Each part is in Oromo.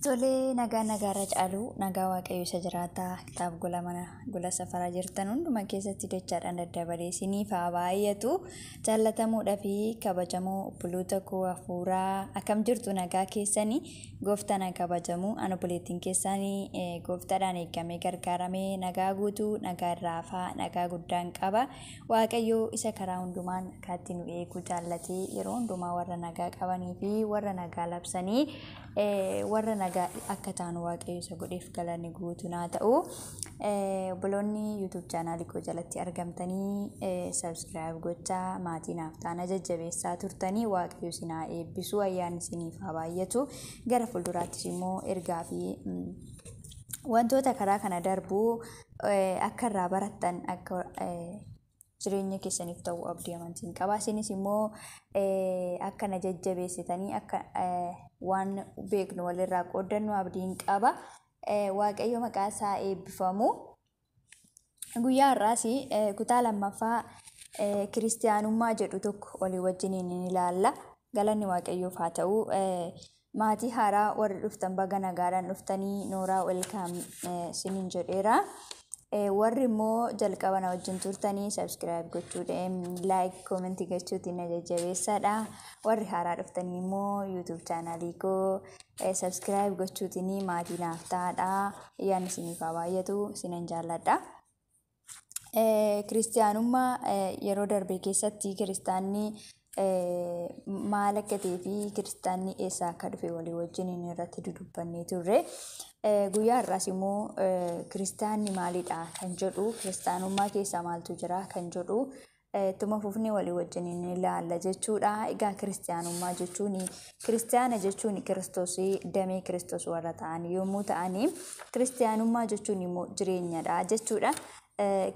Tolee nagaa nagaarra caalu nagaa waaqayyo isa jiraataa kitaab gola mana gola safaraa jirtan hunduma keessatti dachaadhaan daddabalee isiniif haa baay'atu jaallatamuudhaa fi kabajamoo obboloota koo hafuuraa akkam jirtu nagaa keessanii gooftaan haa kabajamu an obboleettiin keessanii eh, gooftaadhaan eegamee gargaaramee nagaa guutuu nagaa irraa hafaa nagaa guddaan qaba Waaqayyo isa karaa hundumaan akkaatti nu eegu jaallatee yeroo hundumaa warra nagaa qabanii fi warra nagaa labsanii warra nagaa akka taanu waaqayyo isa godheef galanni guutuun haa ta'u. Obboloonni YouTube chaanaalii koo jalatti argamtanii sabiskiraayib gochaa maatii naaf taana jajjabeessaa turtanii waaqayyo isin haa eebbisu ayyaanni isiniif haa baay'atu gara fuulduraattis immoo ergaa fi wantoota karaa kana darbuu akka irraa barattan akka jireenya keessaniif ta'u abdii amantiin qaba. Isinis immoo akka na jajjabeessitanii akka waan beeknu walirraa qooddannu abdiin qaba. Waaqayyo maqaa isaa eebbifamu. Guyyaa har'aas kutaa lammaffaa kiristiyaanummaa jedhu tokko olii wajjiniin ni ilaalla. Galanni Waaqayyoof haa ta'u. Maatii haaraa warri dhuftan baga nagaadhaan dhuftanii nooraa welkaam sinin jedheera. Warri immoo jalqaba na wajjin turtanii sabskiraayib gochuudhaan laayik koomentii gochuutiin na jajjabeessaadha. Warri haaraa dhuftanii immoo yuutuub chaanaalii koo sabskiraayib gochuutiin maatii naaf ta'aadha. Ayyaanni isiniif haa baay'atu sinan jaalladha. Kiristiyaanummaa yeroo darbe keessatti kiristaanni maal akka ta'ee fi kiristaanni eessaa akka dhufe walii wajjin irratti dudubbannee turre. Guyyaa har'aas immoo kiristaanni maalidha kan jedhu kiristaanummaa keessa maaltu jira kan jedhu Ittuma fufnee walii wajjin ni ilaalla jechuudha. Egaa kiristiyaanummaa jechuun kiristiyaana jechuun kiristoos damee kiristoos warra ta'an yommuu ta'an kiristiyaanummaa jechuun immoo jireenyadha jechuudha.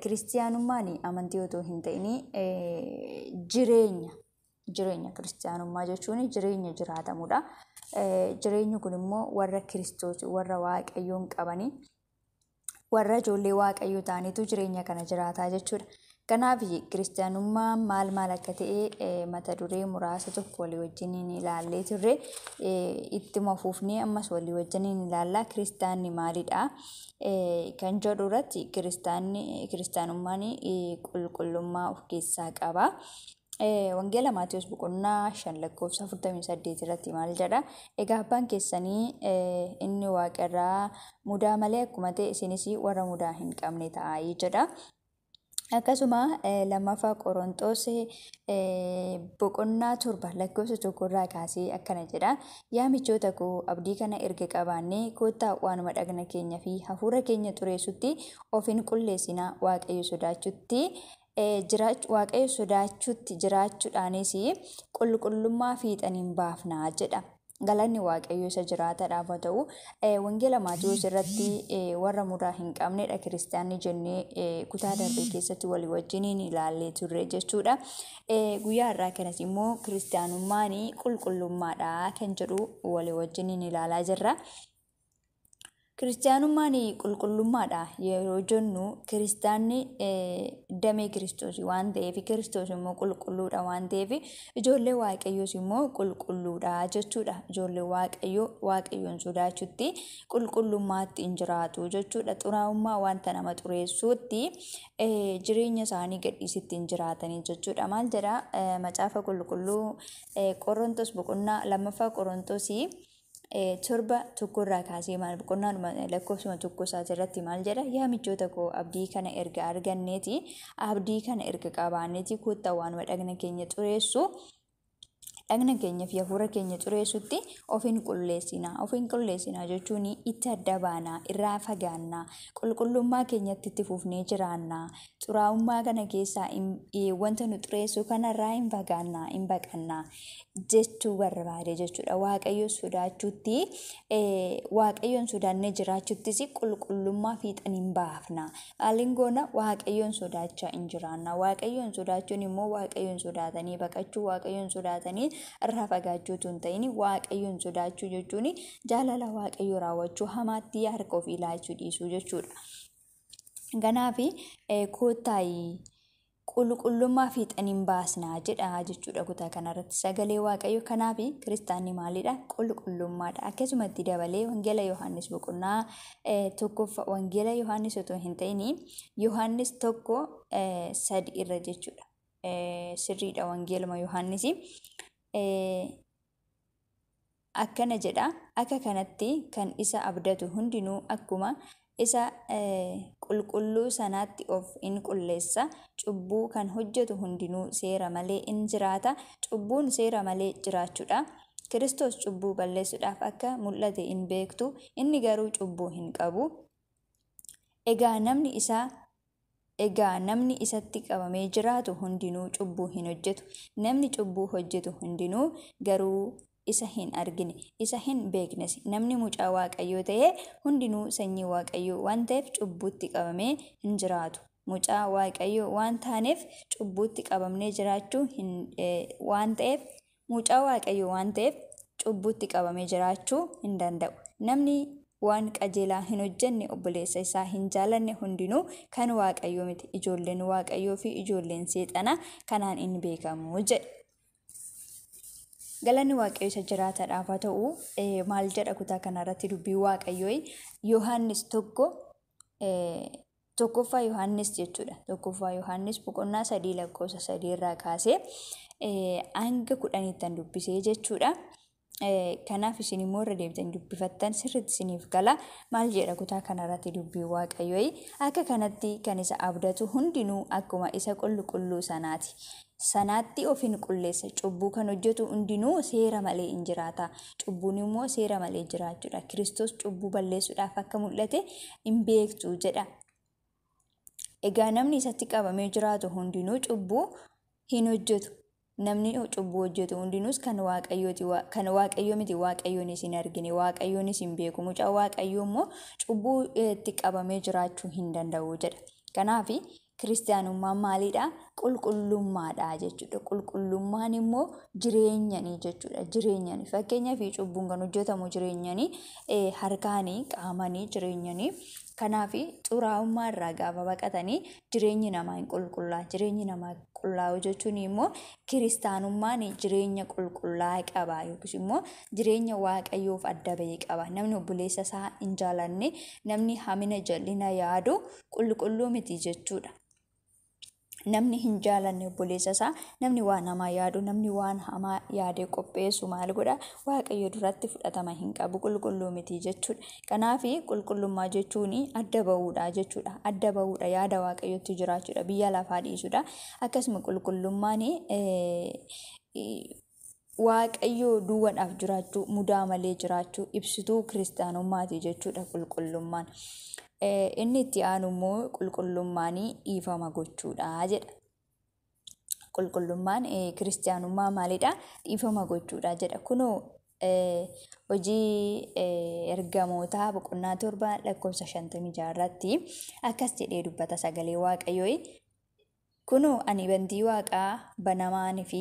Kiristiyaanummaan amantii otoo hin ta'in jireenya jireenya kiristiyaanummaa jechuun jireenya jiraatamudha. Jireenyi kun immoo warra kiristoos warra waaqayyoon qabanii warra ijoollee waaqayyo ta'anitu jireenya kana jiraataa jechuudha. Kanaaf kiristaanummaa maal maal akka ta'e mata duree muraasa tokko walii wajjin ni ilaallee turre ittuma fuufnee ammas walii wajjin ni ilaalla kiristaanni maalidha kan jedhu irratti kiristaanni kiristaanummaan qulqullummaa of keessaa qaba Wangeela Maatiyus boqonnaa 5 lakkoofsa 48 irratti maal jedha? Egaa abbaan keessanii inni waaqa irraa mudaa malee akkuma ta'e isinis warra mudaa hin qabne ta'aa jedha. Akkasuma lammaffaa Qorontoos boqonnaa torba lakkoofsa tokko irraa kaasee akkana jedha. Yaa michoota koo abdii kana erga qabaannee koottaa waanuma dhagna keenya fi hafuura keenya xureessutti of hin qulleessinaa waaqayyo sodaachutti jiraachu, Waaqayyo sodaachuutti jiraachuudhaanis qulqullummaa fiixan hin baafna jedha. Galanni Waaqayyo isa jiraataadhaaf haa ta'u. Eh, Wangeela Maatiwoos irratti eh, warra mudaa hin qabnedha kiristaanni jennee eh, kutaa darbe keessatti walii wajjiniin ilaallee turre jechuudha. Eh, Guyyaa irraa kanas immoo kiristaanummaan qulqullummaadha kan jedhu walii wajjiniin ilaalaa jirra. Kiristaanummaan qulqullummaadha yeroo jennu kiristaanni damee kiristoos waan ta'eef kiristoos immoo qulqulluudha waan ta'eef ijoollee waaqayyoos immoo qulqulluudha jechuudha. Ijoollee waaqayyoo waaqayyoon sodaachutti qulqullummaatti hin jiraatu jechuudha. Xuraa'ummaa wanta nama xureessuutti jireenya isaanii gadhiisitti hin jiraatanii jechuudha. Maal jedha macaafa qulqulluu qorontos boqonnaa lammaffaa qorontosii torba tokkorraa kaasee maal boqonnaadhuma lakkoofsuma tokko isaati irratti maal jedha yaa michoota koo abdii kana erga arganneeti abdii kana erga qabaanneeti kottaa waanuma dhagna keenya xureessu dhagna keenyaaf hafuura keenya xureessutti ofiin qulleessina ofiin qulleessina jechuun itti adda baanaa irraa fagaannaa qulqullummaa keenyatti itti fufnee jiraannaa xuraa'ummaa kana keessaa hin- eh, wanta nu xureessu kanarraa hin fagaanna hin baqanna jechuu barbaade jechuudha waaqayyo sodaachuutti eh, waaqayyoon sodaannee jiraachuuttis qulqullummaa fiixan hin baafna maaliin goona waaqayyoon sodaachaa hin jiraanna waaqayyoon sodaachuun immoo waaqayyoon sodaatanii baqachuu waaqayyoon sodaatanii irraa fagaachuu tun ta'in waaqayyoon sodaachuu jechuun jaalala waaqayyoo raawwachuu hamaatti harka ofii laachuu dhiisuu jechuudha. Ganaafi koottaayi qulqullummaa fiixan hin baasna jedha jechuudha kutaa kanarratti sagalee waaqayyo kanaafi kiristaanni maalidha qulqullummaadha akkasumatti dabalee wangeela yohaannis boqonnaa tokkoffa wangeela yohaannis otoo hin ta'in yohaannis tokko sadi irra jechuudha sirriidha wangeeluma yohaannisi Akkana jedha, Akka kanatti kan isa abdatu hundinuu akkuma isa qulqulluu sanaatti of in qulleessa, cubbuu kan hojjetu hundinuu seera malee in jiraata, cubbuun seera malee jiraachuu dha. Kiristoos cubbuu balleessuudhaaf akka mul'ate in beektu, inni garuu cubbuu hin qabu. Egaa namni isa Egaa namni isatti qabamee jiraatu hundinuu cubbuu hin hojjetu, namni cubbuu hojjetu hundinuu garuu isa hin argine, isa hin beeknes. Namni mucaa Waaqayyoo ta'e hundinuu sanyii Waaqayyoo waan ta'eef cubbuutti qabamee hin jiraatu. Mucaa Waaqayyoo waan taaneef cubbuutti qabamnee jiraachuu hin, eh, waan ta'eef Mucaa Waaqayyoo waan ta'eef cubbuutti qabamee jiraachuu hin danda'u. Namni waan qajeelaa hin hojjenne obboleessa isaa hin jaalanne hundinuu kan Waaqayyoo miti. Ijoolleen Waaqayyoo fi ijoolleen seexanaa kanaan in beekamu jedhe. Galanni Waaqayyo isa jiraataadhaaf haa ta'u maal jedha kutaa kanarratti dubbii Waaqayyoo Yohaannis tokko Tokkoffaa Yohaannis jechuudha. Tokkoffaa Yohaannis boqonnaa sadii lakkoofsa sadii irraa kaasee hanga kudhaniittan dubbisee jechuudha. Kanaaf isin immoo irra deebitan dubbifattan sirriitti isiniif gala. Maal jedha kutaa kanarratti dubbii waaqayyooyi. Akka kanatti kan isa abdatu hundinuu akkuma isa qulqulluu sanaati. sanaatti of in qulleessa. Cubbuu kan hojjetu hundinuu seera malee in jiraata. Cubbuun immoo seera malee jiraachuudha. Kiristoos cubbuu balleessuudhaaf akka mul'ate in beektu jedha. Egaa namni isatti qabamee jiraatu hundinuu cubbuu hin hojjetu. Namni cubbuu hojjetu hundinuus kan waaqayyooti kan waaqayyoo miti waaqayyoonis hin argine waaqayyoonis hin beeku mucaa waaqayyoo immoo cubbuu itti qabamee jiraachuu hin danda'u jedha. Kanaaf Kiristiyaanummaan maaliidha? Qulqullummaadha jechuudha. Qulqullummaan immoo jireenyanii jechuudha. Jireenyanii fakkeenyaa fi cubbuun kan hojjetamu jireenyanii eh, harkaanii qaamanii jireenyanii kanaaf xuraa'ummaa irraa gaafa baqatanii jireenyi namaa hin qulqullaa. Jireenyi namaa qullaa'u jechuun immoo kiristaanummaan jireenya qulqullaa qaba yookiis immoo jireenya waaqayyoof adda ba'e qaba. Namni obboleessa isaa hin jaalanne namni hamina jal'ina yaadu qulqulluu miti jechuudha. Namni hin jaalanne obboleessa isaa namni waan hamaa yaadu namni waan hamaa yaadee qopheessu maal godha waaqayyo duratti fudhatama hin qabu qulqulluu miti jechuudha. Kanaaf qulqullummaa jechuun adda bahuudha jechuudha. Adda bahuudha yaada waaqayyotti jiraachuudha biyya lafaa dhiisuudha. Akkasuma qulqullummaan Waaqayyoo duwwadhaaf jiraachuu, mudaa malee jiraachuu, ibsituu kiristaanummaati jechuudha qulqullummaan. Inni itti aanu immoo qulqullummaan dhiifama gochuudha jedha. Qulqullummaan kiristaanummaa maalidha? Dhiifama gochuudha jedha. Kunoo hojii ergamootaa boqonnaa torba lakkoofsa shantamii jaha irratti akkas jedhee dubbata sagalee waaqayyoo Kunoo, ani bantii waaqaa banamaan fi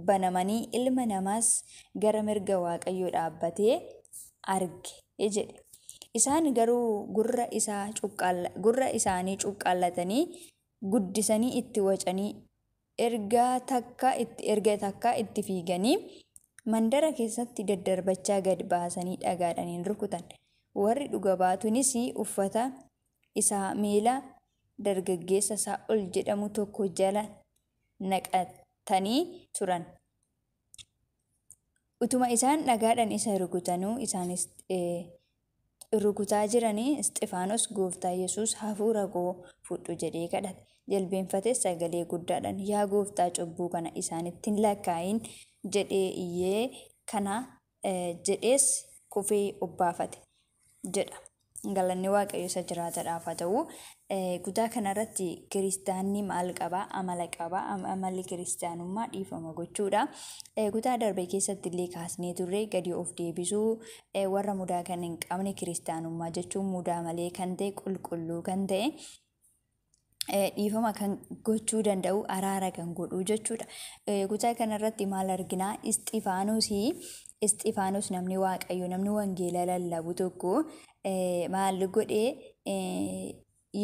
banamanii ilma namaas gara mirga Waaqayyoo dhaabbatee arge jedhe. Isaan garuu gurra isaa cuqqaalla, gurra isaanii cuqqaallatanii guddisanii itti wacanii erga takka itti erga takka itti fiiganii mandara keessatti daddarbachaa gad baasanii dhagaadhaan in rukutan. Warri dhuga baatuunis uffata isaa miila dargaggeessa Saa'ol jedhamu tokko jala naqatanii turan. Utuma isaan dhagaadhaan isa rukutanuu isaanis rukutaa jiranii Isxifaanos gooftaa Yesuus hafuura koo fudhu jedhee kadhate. Jilbeenfatees sagalee guddaadhaan yaa gooftaa cubbuu kana isaanitti hin lakkaa'in jedhee iyyee kana jedhees kufee obbaafate jedha. Galanni Waaqayyo isa jiraatadhaaf haa ta'u. Kutaa kanarratti kiristaanni maal qaba? Amala qaba. Amalli kiristaanummaa dhiifama gochuudha. Kutaa darbe keessatti illee kaasnee turre gadi of deebisuu warra mudaa kan hin qabne kiristaanummaa jechuun mudaa malee kan ta'e qulqulluu kan ta'e dhiifama kan gochuu danda'u araara kan godhuu jechuudha. Kutaa kanarratti maal arginaa? Isxifaanosii Isxifaanos namni waaqayyo namni wangeela lallabu tokko maal godhee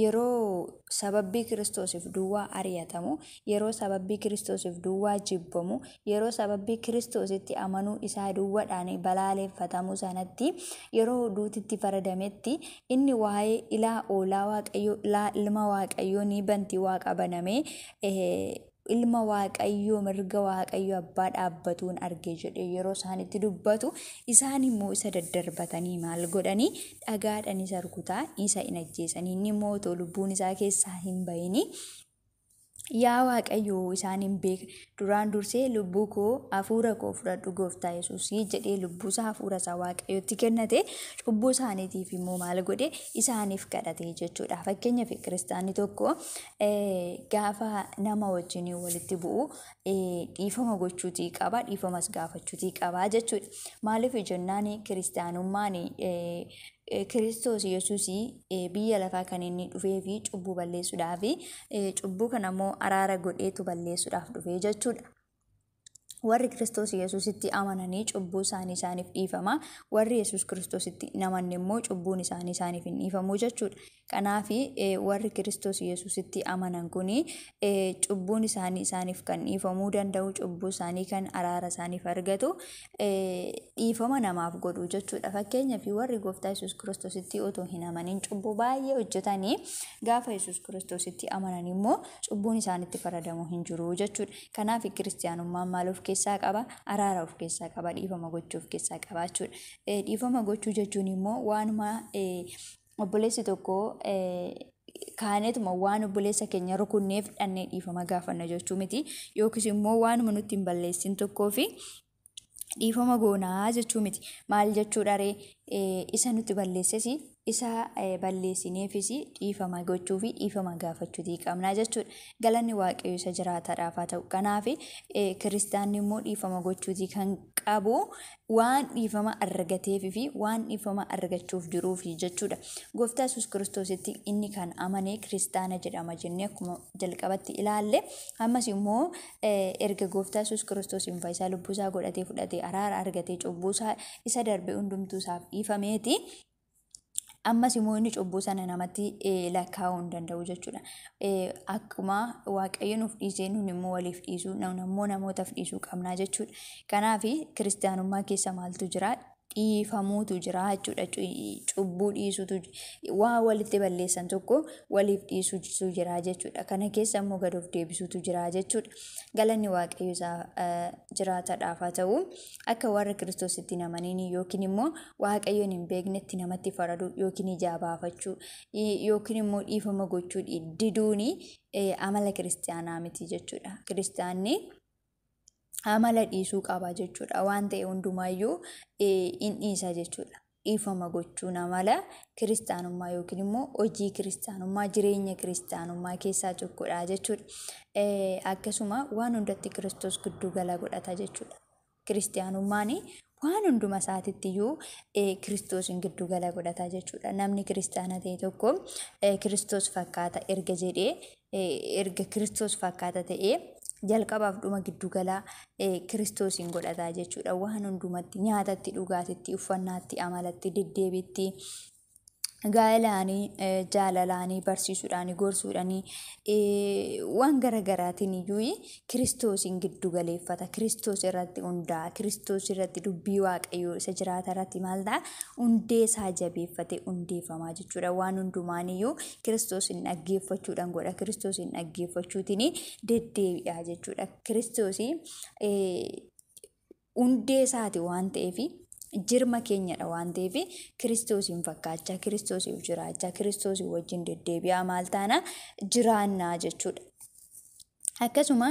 yeroo sababbii kiristoosiif duwwaa ari'atamu yeroo sababbii Kiristoosiif duwwaa jibbamu, yeroo sababbii Kiristoositti amanuu isaa duwwadhaan balaaleffatamu sanatti, yeroo duuti itti faradametti, inni waa'ee ilaa oolaa Waaqayyoo, ilaa ilma Waaqayyoo ni banti waaqa banamee, ilma Waaqayyoo mirga Waaqayyo abbaa dhaabbatuun arge jedhee yeroo isaan itti dubbatu, isaan immoo isa daddarbatanii maal godhanii dhagaadhaan isa rukutaa isa hin ajjeesanii, inni immoo otoo lubbuun isaa keessaa hin bahini Yaa Waaqayyo isaan hin beekne. Duraan dursee lubbuu koo hafuura koo fudhadhu gooftaa Yesuusii jedhee lubbuusaa hafuurasaa Waaqayyotti kennate cubbuu isaaniitiif immoo maal godhe isaaniif kadhate jechuudha. Fakkeenyaaf kiristaanni tokko gaafa nama wajjin walitti bu'u dhiifama gochuutii qaba dhiifamas gaafachuutii qaba jechuudha. Maaliif jennaan kiristaanummaan kiristoos yesuus biyya lafaa kan inni dhufee fi cubbuu balleessuudhaaf cubbuu kana immoo araara godheetu balleessuudhaaf dhufee jechuudha. Warri kiristoos yesuusitti amananii cubbuu isaanii isaaniif dhiifama warri yesuus kiristoositti hin amanne immoo cubbuun isaanii isaaniif hin dhiifamu jechuudha. Kanaaf warri Kiristoos Yesuusitti amanan kun cubbuun isaanii isaaniif kan dhiifamuu danda'u, cubbuu isaanii kan araara isaaniif argatu, dhiifama namaaf godhu jechuudha. Fakkeenyaaf warri gooftaa Yesuus Kiristoositti otoo hin amanin cubbuu baay'ee hojjetanii gaafa Yesuus Kiristoositti amanan immoo cubbuun isaanitti faradamu hin jiru jechuudha. Kanaaf kiristiyaanummaan maal of keessaa qaba? Araara of keessaa qaba, dhiifama gochuu of keessaa qaba jechuudha. Dhiifama gochuu jechuun immoo waanuma obboleessi tokko kaaneetuma waan obboleessa keenya rukunneef dhannee dhiifama gaafanna jechuu miti yookiis immoo waanuma nutti hin balleessin tokkoo fi dhiifama goonaa jechuu miti maal jechuu dharee isa nutti balleesses isa balleessineefis dhiifama gochuu fi dhiifama gaafachuutii qabnaa jechuudha galanni waaqayyo isa jiraataadhaaf haa ta'u kanaaf kiristaanni immoo dhiifama gochuutii kan qabu waan dhiifama argateef fi waan dhiifama argachuuf jiruufi jechuudha. Gooftaa Yesuus Kiristoositti inni kan amane kiristaana jedhama jennee akkuma jalqabatti ilaalle ammas immoo erga Gooftaa Yesuus Kiristoosiin fayyisaa lubbuu isaa godhatee fudhatee araara argatee cubbuu isaa isa darbe hundumtuu isaaf dhiifameeti ammas immoo inni cubbuu sana namatti lakkaa'uu hin danda'u jechuudha. Akkuma waaqayyo nuuf dhiisee nun immoo waliif dhiisuu nun immoo namootaaf dhiisuu qabnaa jechuudha. Kanaaf kiristaanummaa keessa maaltu jira? Dhiifamuutu jira jechuudha. Cubbuu dhiisuutu waa walitti balleessan tokko waliif dhiisuutu jira jechuudha. Kana keessa immoo gad of deebisuutu jira jechuudha. Galanni waaqayyo isaa jiraataadhaaf haa ta'u. Akka warra Kiristoositti hin amaniin yookiin immoo Waaqayyoon hin beeknetti namatti faraduu yookiin ijaa baafachuu yookiin immoo dhiifama gochuu diduun amala kiristaanaa miti jechuudha. Kiristaanni amala dhiisuu qaba jechuudha. Waan ta'e hundumaayyuu hin dhiisa jechuudha. dhiifama gochuun amala kiristaanummaa yookiin immoo hojii kiristaanummaa jireenya kiristaanummaa keessaa tokkodha jechuudha. Eh, Akkasuma waan hundatti kiristoos gidduu gala godhata jechuudha. Kiristaanummaan waan hunduma isaatitti iyyuu eh, kiristoosiin gidduu gala godhata jechuudha. Namni kiristaana ta'e tokko eh, kiristoos fakkaata erga jedhee erga Kiristoos fakkaata ta'ee jalqabaaf dhuma giddugalaa Kiristoosiin godhataa jechuudha. Waan hundumatti nyaatatti, dhugaatitti, uffannaatti, amalatti, deddeebiitti, gaa'elaanii, jaalalaanii, barsiisuudhaanii, gorsuudhaanii waan gara garaatiin iyyuu Kiristoosiin giddu galeeffata. Kiristoos irratti hundaa'a. Kiristoos irratti dubbii Waaqayyoo isa jiraata irratti maal ta'a? Hundee isaa jabeeffatee hundeeffamaa jechuudha. Waan hundumaaniyyuu Kiristoosiin dhaggeeffachuudhaan godha. Kiristoosiin dhaggeeffachuutiin deddeebi'a jechuudha. Kiristoosii hundee isaati waan ta'eef jirma keenyadha waan ta'eef kiristoosiin fakkaachaa kiristoosiif jiraachaa kiristoosii wajjin deddeebi'aa maal taana jiraannaa jechuudha. Akkasuma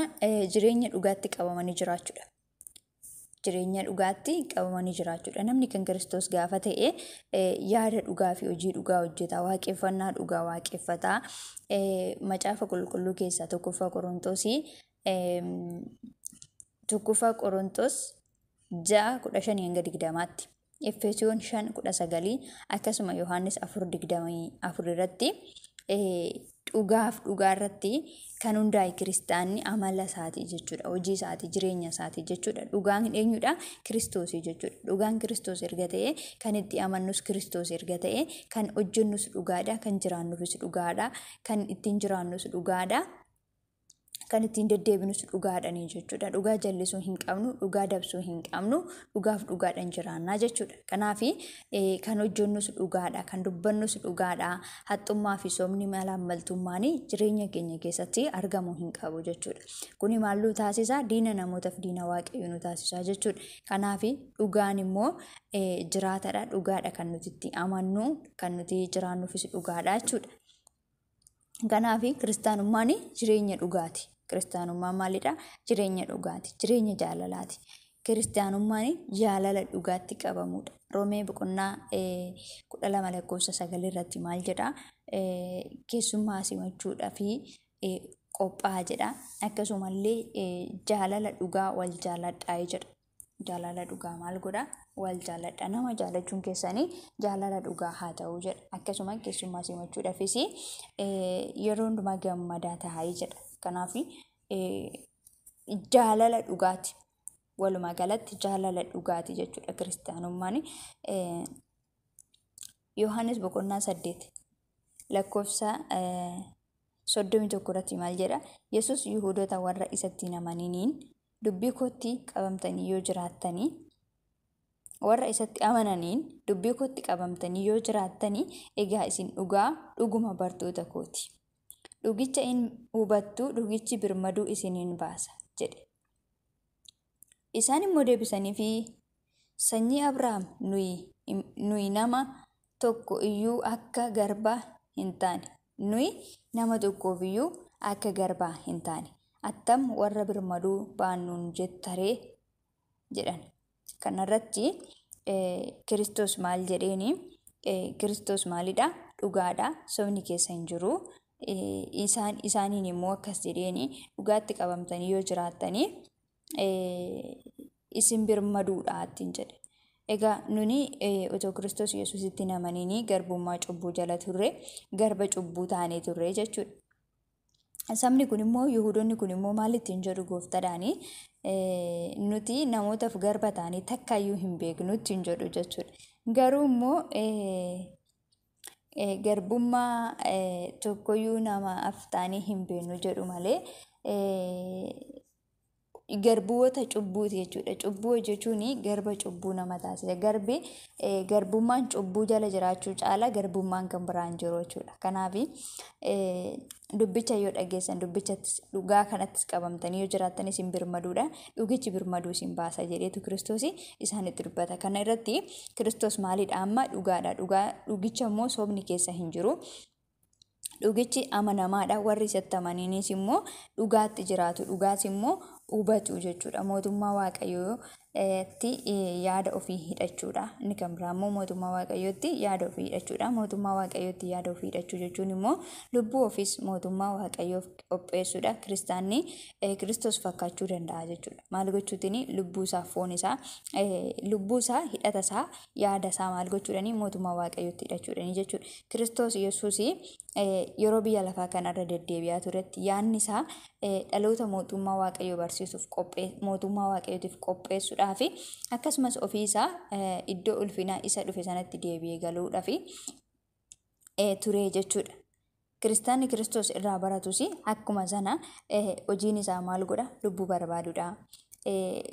jireenya dhugaatti qabamanii jiraachuudha. Jireenya dhugaatti qabamanii jiraachuudha. Namni kan Kiristoos gaafa ta'e yaada dhugaa fi hojii dhugaa hojjeta. Waaqeffannaa dhugaa waaqeffata. Macaafa qulqulluu keessaa tokkoffaa Qorontoos tokkoffaa Qorontoos ja'a kudha shanii hanga digdamaatti. Efesoon 5:19 akkasuma Yohaannis 4:24 irratti dhugaaf dhugaa irratti kan hundaa'e kiristaanni amala isaatii jechuudha. Hojii isaatii, jireenya isaatii jechuudha. Dhugaan eenyudha? Kiristoosii jechuudha. Dhugaan Kiristoos erga ta'e, kan itti amannus Kiristoos erga ta'e, kan hojjennus dhugaadha, kan jiraannufis dhugaadha, kan ittiin jiraannus dhugaadha. kan ittiin deddeebinus dhugaadhani jechuudha. Dhugaa jallisuu hin qabnu, dhugaa dabsuu hin qabnu, dhugaaf dhugaadhan jiraannaa jechuudha. Kanaaf kan hojjennus dhugaadha, kan dubbannus dhugaadha. Haxxummaa fi soomni malaammaltummaan jireenya keenya keessatti argamuu hin qabu jechuudha. Kuni maal nu taasisa? Diina namootaaf diina waaqayyoo nu taasisa jechuudha. Kanaaf dhugaan immoo jiraatadha, dhugaadha kan nuti itti amannu, kan nuti jiraannuufis dhugaadha jechuudha. Kanaaf kiristaanummaan jireenya dhugaati. Kiristaanummaan maalidha? Jireenya dhugaati. Jireenya jaalalaati. Kiristaanummaan jaalala dhugaatti qabamudha. Roomee boqonnaa kudha lama lakkoofsa sagal irratti maal jedha? Keessummaa simachuudhaa fi qophaa'aa jedha. Akkasumallee jaalala dhugaa wal jaaladhaa jedha. jaalala dhugaa maal godha wal jaaladha nama jaalachuun keessanii jaalala dhugaa haa ta'u jedha akkasuma keessummaa simachuudhaafis yeroo hundumaa gammadaa taa'ee jedha kanaaf jaalala dhugaati walumaa galatti jaalala dhugaati jechuudha kiristaanummaan yohaannis boqonnaa saddeet lakkoofsa soddomii tokko irratti maal jedha yesus yihudoota warra isatti hin amaniniin dubbii kootti qabamtanii yoo jiraattanii warra isatti amananiin dubbii kootti qabamtanii yoo jiraattanii egaa isin dhugaa dhuguma bartoota kooti dhugicha in hubattu dhugichi birmaduu isin in baasa jedhe isaan immoo deebisaniifi sanyii abrahaam nuyi nuyi nama tokko iyyuu akka garbaa hin taane. Nuyi nama tokkoof iyyuu akka garbaa hin taane. Attam warra birmaduu baannuun jetta ree? jedhan. Kanarratti Kiristoos maal jedheeni? Kiristoos maalidha? Dhugaadha. Sobni keessa hin jiru. Isaan isaaniin immoo akkas jedheeni dhugaatti qabamtanii yoo jiraattanii isin birmaduudha ittiin jedhe. Egaa nuni otoo Kiristoos Yesuusitti hin amaniinii garbummaa cubbuu jala turre garba cubbuu taanee turre jechuudha. Sabni kun immoo Yihudoonni kun immoo maal ittiin jedhu gooftadhaanii nuti namootaaf garba taanee takkaayyuu hin beeknu ittiin jedhu jechuudha. Garuu immoo garbummaa tokkoyyuu namaaf taanee hin beeknu jedhu malee garbuwota cubbuuti jechuudha. Cubbuu hojjechuun garba cubbuu nama taasisa. Garbi garbummaan cubbuu jala jiraachuu caala garbummaan kan biraan jiru jechuudha. Kanaaf dubbicha yoo dhageessan dubbichattis dhugaa kanattis qabamtanii yoo jiraattan isin birmaduudha. Dhugichi birmaduu isin baasa jedheetu kiristoos isaanitti dubbata. Kana irratti kiristoos maalidha amma dhugaadha. Dhugaa dhugicha immoo sobni keessa hin jiru. Dhugichi amanamaadha. Warri isatti amaniinis immoo dhugaatti jiraatu. Dhugaas immoo hubatu jechuudha. Mootummaa Waaqayyootti yaada ofii hidhachuudha. Inni kan biraa immoo mootummaa Waaqayyootti yaada ofii hidhachuudha. Mootummaa Waaqayyootti yaada ofii hidhachuu jechuun immoo lubbuu ofiis mootummaa Waaqayyoof qopheessuudha. Kiristaanni Kiristoos fakkaachuu danda'a jechuudha. Maal gochuutiin lubbuu isaa foon isaa lubbuu isaa hidhata isaa yaada isaa maal gochuudhaani mootummaa Waaqayyootti hidhachuudhaani jechuudha. Kiristoos Yesuus yeroo biyya lafaa kanarra deddeebi'aa turetti yaadni isaa dhaloota mootummaa waaqayyoo barsiisuuf mootummaa waaqayyootiif qopheessuudhaa fi akkasumas ofii isaa iddoo ulfinaa isa dhufe sanatti deebi'ee galuudhaa fi ture jechuudha. Kiristaanni Kiristoos irraa baratus akkuma sana hojiin isaa maal godha lubbuu barbaadudha.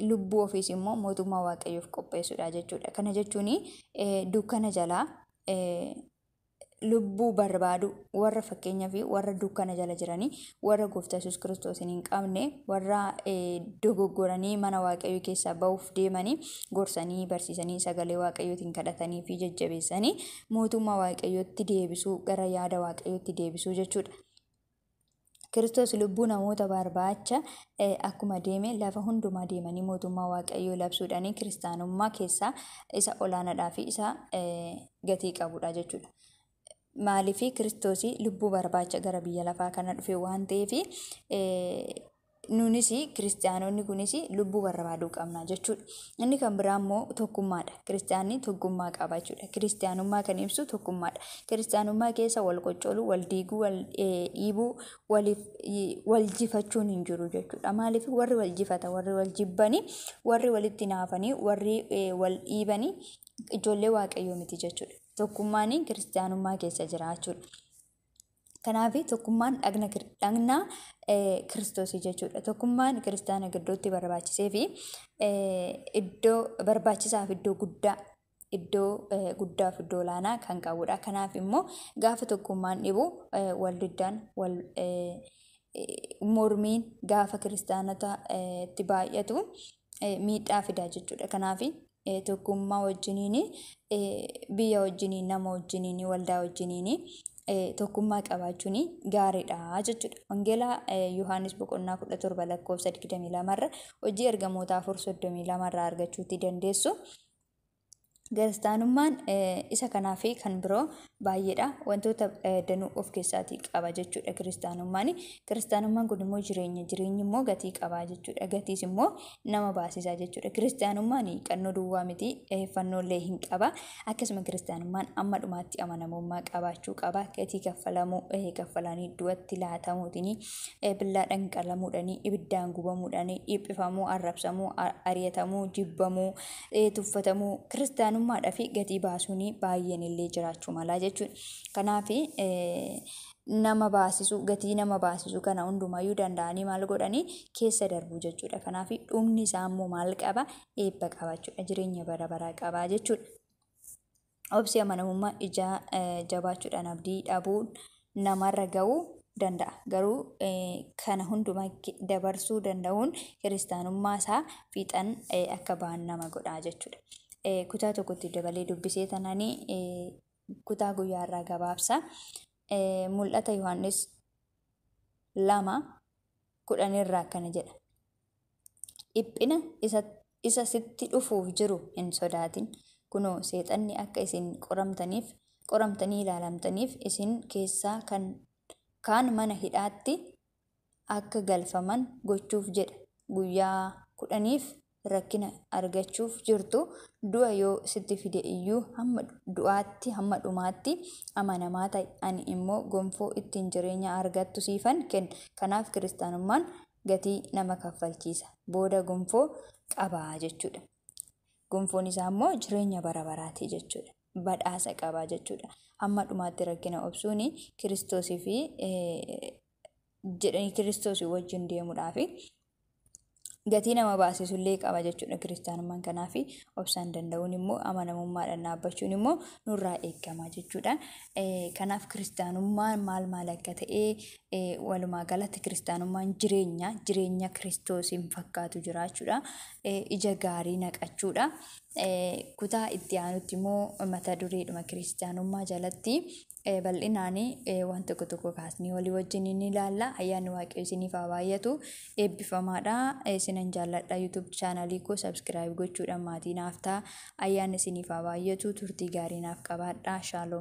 Lubbuu ofiis immoo mootummaa waaqayyoof qopheessuudha jechuudha. Kana jechuun dukkana jalaa lubbuu barbaadu warra fakkeenyaa fi warra dukkana jala jiranii warra gooftaa yesus kiristoosiin hin qabne warra dogoggoranii mana waaqayyoo keessaa ba'uuf deemanii gorsanii barsiisanii sagalee waaqayyootiin kadhatanii fi jajjabeessanii mootummaa waaqayyootti deebisuu gara yaada waaqayyootti deebisuu jechuudha. Kiristoos lubbuu namoota barbaacha eh, akkuma deeme lafa hundumaa deemanii mootummaa Waaqayyoo labsuudhaan kiristaanummaa keessaa isa olaanaadhaa fi isa eh, gatii qabudha jechuudha. Maaliif Kiristoos lubbuu barbaacha gara biyya lafaa kana dhufe waan ta'eef eh, nunis kiristiyaanonni kunis lubbuu barbaaduu qabna jechuudha. Inni kan biraa immoo tokkummaadha. Kiristiyaanni tokkummaa qaba jechuudha. Kiristiyaanummaa kan ibsu tokkummaadha. Kiristiyaanummaa keessa wal qoccoluu, wal diiguu, wal dhiibuu, waliif wal jifachuun hin jiru jechuudha. Maaliif warri wal jifatan, warri wal jibbanii, warri walitti naafanii, warri wal dhiibanii ijoollee waaqayyoo miti jechuudha. Tokkummaan kiristiyaanummaa keessa jira jechuudha. Kanaaf tokkummaan dhagna kir- dhagna eh, kiristoosii jechuudha. Tokkummaan kiristaana gidduutti barbaachisee fi eh, iddoo barbaachisaa fi iddoo guddaa iddoo eh, guddaa fi iddoo olaanaa kan qabudha. Kanaaf immoo gaafa tokkummaan dhibu eh, wal diddaan wal eh, eh, mormiin gaafa kiristaanota eh, itti baay'atu eh, miidhaa fida jechuudha. Kanaaf tokkummaa wajjiniin biyya wajjiniin nama wajjiniin waldaa wajjiniin tokkummaa qabaachuun gaariidha jechuudha. Wangeelaa Yohaannis boqonnaa 17 lakkoofsa 22 irra hojii ergamoota 4:32 irraa argachuutti dandeessu. Kiristaanummaan isa kanaa fi kan biroo baay'eedha. Wantoota danuu of keessaatii qaba jechuudha kiristaanummaan. Kiristaanummaan kun immoo jireenya. Jireenyi immoo gatii qaba jechuudha. Gatiis immoo nama baasisa jechuudha. Kiristaanummaan qannoo duwwaa miti fannoolee hin qaba. Akkasuma kiristaanummaan amma dhumaatti amanamummaa qabaachuu qaba. Gatii kaffalamuu kaffalanii du'atti laatamuutiin billaa dhanqalamuudhaan ibiddaan gubamuudhaan dhiphifamu arrabsamuu ari'atamuu jibbamuu tuffatamuu kiristaanummaadhaaf gatii baasuun baay'een illee jiraachuu malaa jechuudha. Kanaaf nama baasisu gatii nama baasisu kana hundumayyuu danda'anii maal godhanii keessa darbuu jechuudha. Kanaaf dhumni isaa immoo maal qaba eebba qaba jechuudha. Jireenya bara baraa qaba jechuudha. Obsi amanamummaa ijaa jabaachuudhaan abdii dhabuun namarra ga'uu danda'a. Garuu kana hundumaa dabarsuu danda'uun kiristaanummaa isaa fiixan akka ba'an nama godha jechuudha. Kutaa tokkotti dabalee dubbisee tananii kutaa guyyaa irraa gabaabsa. Mul'ata Yohaannis lama kudhan irraa akkana jedha. Dhiphina isa sitti dhufuuf jiru hin sodaatin. Kunoo, Seexanni akka isin qoramtaniif, qoramtanii ilaalamtaniif, isin keessaa kan kaan mana hidhaatti akka galfaman gochuuf jedha. Guyyaa kudhaniif rakkina argachuuf jirtu, du'a yoo sitti fide iyyuu hamma du'aatti, hamma dhumaatti amanamaa ta'i, ani immoo gonfoo ittiin jireenya argattu siifan kenna. Kanaaf Kiristaanummaan gatii nama kaffalchiisa. Booda gonfoo qaba jechuudha. Gonfoon isaa immoo jireenya bara baraati jechuudha. Badhaasa qaba jechuudha. Hamma dhumaatti rakkina obsuun kiristoosii fi jedhanii kiristoosii wajjin deemuudhaaf gatii nama baasisu illee qaba jechuudha kiristaanummaan kanaa fi obsaan danda'uun immoo amanamummaadhaan dhaabbachuun immoo nurraa eegama jechuudha. Kanaaf kiristaanummaan maal maal akka ta'e Walumaa galatti kiristaanummaan jireenya, jireenya kiristoosiin fakkaatu jiraachuudha. Ija gaarii naqachuudha. Kutaa itti aanutti immoo mata dureedhuma kiristaanummaa jalatti bal'inaan waan tokko tokko kaasnee walii wajjin ni ilaalla. Ayyaanni waaqayyoo isiniif haa baay'atu. Eebbifamaadha. Isinan jaalladha. YouTube chaanalii koo subscribe gochuudhaan maatii naaf ta'a. Ayyaanni isiniif haa baay'atu. Turtii gaarii naaf qabaadha. Shaaloom.